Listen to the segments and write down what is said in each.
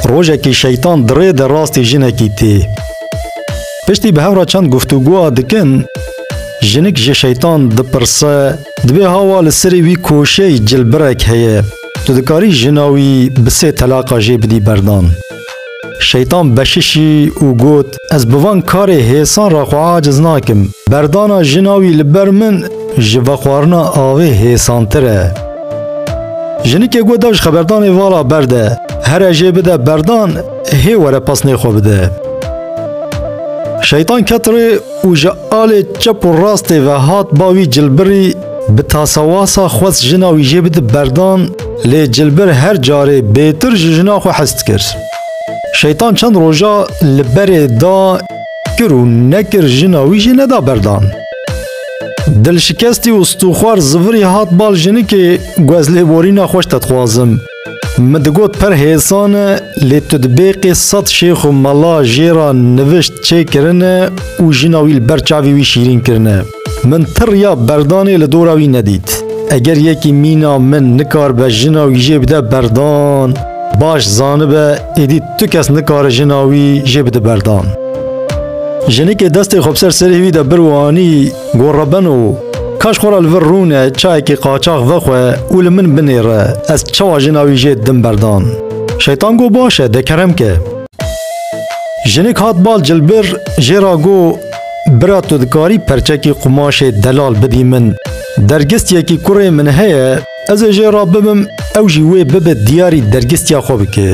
Rojekî şeytan dirê de rastî jinekî tê. Piştî bi hev re çend guftûgoa dikin, jinik ji şeytan dipirse, Dibê hawa li serê wî koşey cilbirek heye. Tu dikarî jina wî bi sê telaqa jê bidî berdan. Şeytan beşişî û got, Ez bi van karê hêsan re xwe aciz nakim. Berdana jina wî li ber min ji vexwarina avê hêsantir e. Jinikê got da ji xeberdanê vala berde, here jê bide berdan hê were pasnê xwe bide. Şeytan ket rê û ji alê çep û rastê ve hat ba wî cilbirî Bi tasawasa xwest jina wî jê bide berdan lê Cilbir her carê bêtir ji jina xwe hez dikir. Şeytan çend roja li berê da kir û nekir jina wî jê neda berdan. Dilşikestî û stûxwar zivirî hat bal jinikê guezlêborîna xweş te dixwazim. Min digot per hêsan e lê tu di bêqê sed şêx û mela jê re nivişt çê kirine û jina wî li ber çavê wî şîrîn kirine. Min ti riya berdanê li dora wî nedît. Eger yekî mîna min nikaribe jina wî jê bide berdan, baş zanibe êdî tu kes nikare jina wî jê bide berdan. Jinikê destê xwe bi ser serê wî de bir û anî Got rebeno, kaş xwe re li vir rûne çayekî qaçax vexwe û li min binêre, ez çawa jina wî jê didim berdan. Şeytan got baş e, de kerem ke. Jinik hat bal cilbir, jê re got, Bira tu dikarî perçekî qumaşê delal bidî min, dergistiyekî kurê min heye, Ez ê jê re bibim ew jî wê bibe diyarî dergistiya xwe bike.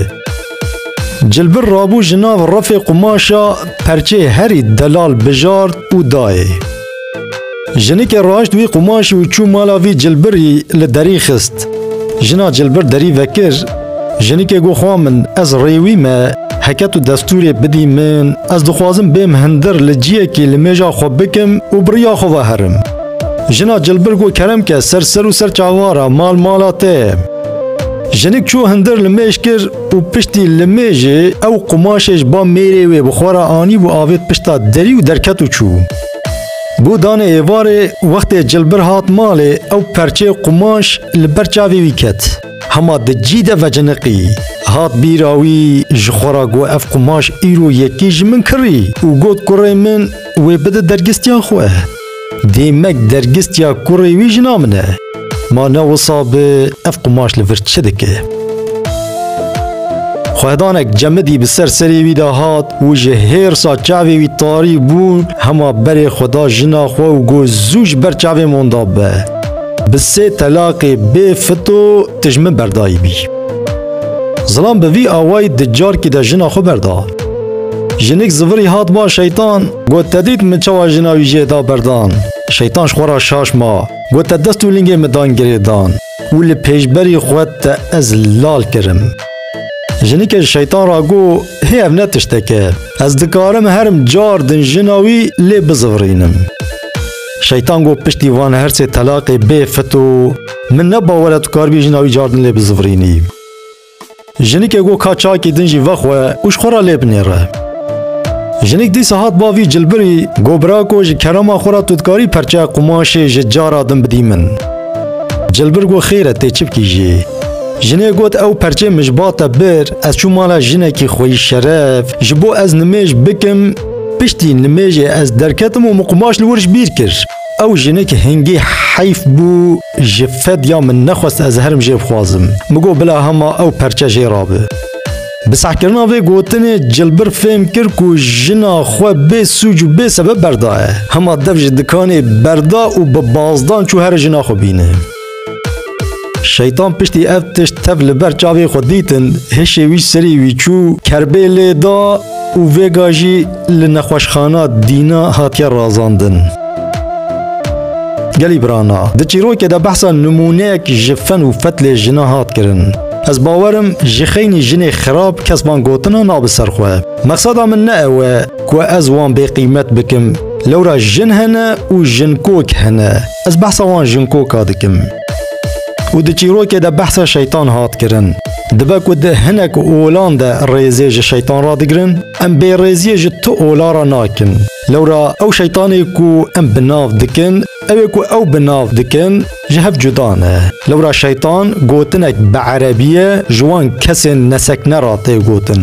Cilbir rabû ji nav refê qumaşa perçê herî delal bijart û dayê. Jinikê raşt wî qumaşî û çû mala vî cilbirî li derî xist. Jina cilbir derî vekir, jinikê got xwa min ez rê wî me heket û destûrê bidî min, ez dixwazim bêm hindir li ciyekî li mêja xwe bikim û bi riya xwe ve herim. Jina cilbir got kerem ke ser ser û ser çavara mal mala te ye. Jinik çû hindir li mêj kir û piştî li mêjê ew qumaşê ji ba mêrê wê bi xwe re anî bû avêt pişta derî û derket û çû. Bo danê êvarê wextê cilbir hat malê ew perçeyê qumaş li ber çavê wî ket. Hema di cî de veciniqî. Hat bîra wî ji xwe re got ev qumaş îro yekî ji min kirî û got kurê min wê bide dergistiya xwe. Dêmek dergistiya kurê wî jina min e. Ma ne wisa bi ev qumaş li vir çi dike? Xwehdanek cemidî bi ser serê wî de hat û ji hêrsa çavê wî tarî bû hema berê xwe da jina xwe û got zû ji ber çavê min da be. Bi sê telaqê bê fito tu ji min berdayîbî. Zilam bi vî awayî di carkî de jina xwe berda. Jinik zivirî hat ba şeytan Got te dît min çawa jina wî jê da berdan. Şeytan ji xwe re şaş ma. Got te dest û lingê min dan girêdan û li pêşberî xwe te ez lal kirim. Jinike ji şeytan re got, Hê ev ne tiştek e. Ez dikarim herim car din jina wî lê bizivirînim. Şeytan got piştî van her sê telaqê bê fito min ne bawer e tu karibî jina wî car din lê bizivirînî. Jinike got ka çakî din jî vexwe û ji xwe re lê binêre. Jinik dîsa hat ba vî cilbirî, got birako ji kerema xwe re tu dikarî perçeya qumaşê ji cara din bidî min. Cilbir got xêr e tê çi bikî jî. Jinê got ew perçê min ji ba te bir, ez çûm mala jinekî xwe yî şeref, ji bo ez nimêj bikim, piştî nimêjê ez derketim û min qumaş li wir ji bîr kir. Ew jinik hingî heyf bû ji fedya min nexwest ez herim jê bixwazim. Min got bila hema ew perçe jê re be. Bi sehkirina vê gotinê Cilbir fêm kir ku jina xwe bê sûc û bê sebeb berdaye. Hema dev ji dikanê berda û bi bazdan çû here jina xwe bîne. Şeytan piştî ev tişt tev li ber çavê xwe dîtin, hêşê wî serî wî çû, kerbê lê da û vêga jî li nexweşxana dîna hatiye razandin. Gelî birana, di çîrokê de behsa nimûneyek ji fen û fetlê jina hat kirin. Ez bawerim ji xeynî jinê xirab kes van gotina nabi ser xwe. Mexseda min ne ew e ku ez wan bêqîmet bikim, lewra jin hene û jinkok hene. Ez behsa wan Jungkooka dikim. Û di çîrokê de behsa şeytan hat kirin. Dibe ku di hinek olan de rêzê ji şeytan re digirin, em bêrêziyê ji tu ola re nakin. Lewra ew şeytanê ku em bi nav dikin, ew ê ku ew bi nav dikin ji hev cuda ne. Lewra şeytan gotinek bi erebiyê ji wan kesên nesekne re tê gotin.